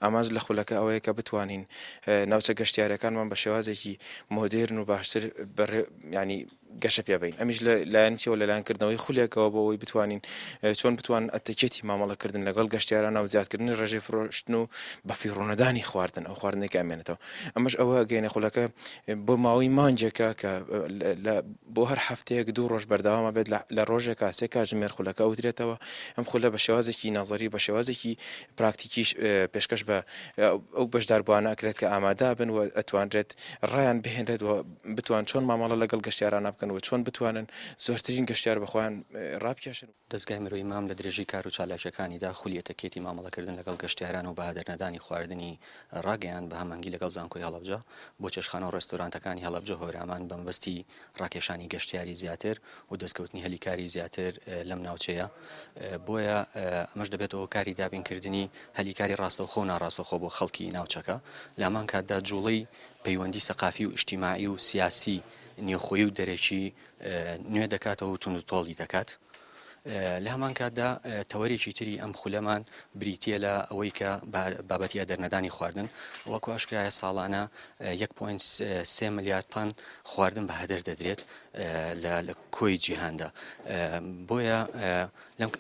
ئامانج لە خولەکە ئەوەیە کە بتوانین ناوچە گەشتیارەکانمان بە شێوازێکی مۆدێرن و باشتر ینی گەشە پێبین ئەمیش لە لایەنچەوە لەلایەنکردنەوەی خولێکەوە بۆ ئەوی بتوانین چۆن بتوان ئەتەکێتی مامەڵەکردن لەگەڵ گەشتیارانە و زیادکردنی ڕێژەی فرۆشتن و بە فیڕۆنەدانی خواردن ئەو خواردنێک ئەمێنێتەوە ئەمەش ئەوە گەینە خولەکە بۆ ماوەی مانجێکە کە بۆ هەر هەفتەیەک دوو ڕۆژ بەرداوامە بێت لە ڕۆژێکا سێ کاژمێر خولەکە ئەوترێتەوە ئەم خولە بە شێوازێکی نازەری بە شێوازێکی پراکتیکیش پێشکەش بە ئەو بەشداربووانە ئەکرێت کە ئامادابن و ئەتوانرێت ڕایان بهێنرێت و بتوان چۆن مامەڵە لەگەڵ گەشتیارانە بکەن و چۆن بتوانن زۆرترین گەشتیار بەخۆیان ڕابکێشن. دەزگای مرۆی مام لە درێژەی کار و چالاکییەکانیدا خولی ئەتەکێتی مامەڵەکردن لەگەڵ گەشتیاران و بەهادەرنەدانی خواردنی ڕاگەیاند بە هەمەنگی لەگەڵ زانکۆی هەڵەبجە بۆ چێشتخانە و ڕێستۆرانتەکانی هەڵەبجە هۆرامان بەمەبەستی ڕاکێشانی گەشتیاری زیاتر و دەستکەوتنی هەلی کاری زیاتر لەم ناوچەیە بۆیە ئەمەش دەبێتەوە کاری دابینکردنی هەلی کاری ڕاستەوخۆ و ناڕاستەخۆ بۆ خەڵکی ناوچەکە لامان کاتدا جوڵەی پەیوەندی سەقافی و ئیشتیماعی و سیاسی نێوخۆی و دەرەکی نوێ دەکاتەوە و تونند تۆڵی دەکات. لە هەمان کاتدا تەوەرێکی تری ئەم خولەمان بریتە لە ئەوەی کە بابەتی ئەدەرنەدانی خواردن وەکو ئاشکرایە ساڵانە 1.3 ملیار تان خواردن بە هەدەر دەدرێت لە کۆی جیهاندا بۆیە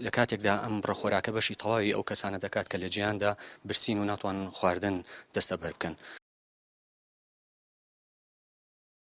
لە کاتێکدا ئەم ڕخۆراکە بەشی تەواوی ئەو کەسانە دەکات کە لە جیاندا برسین و ناتوان خواردن دەستە بەر بکەن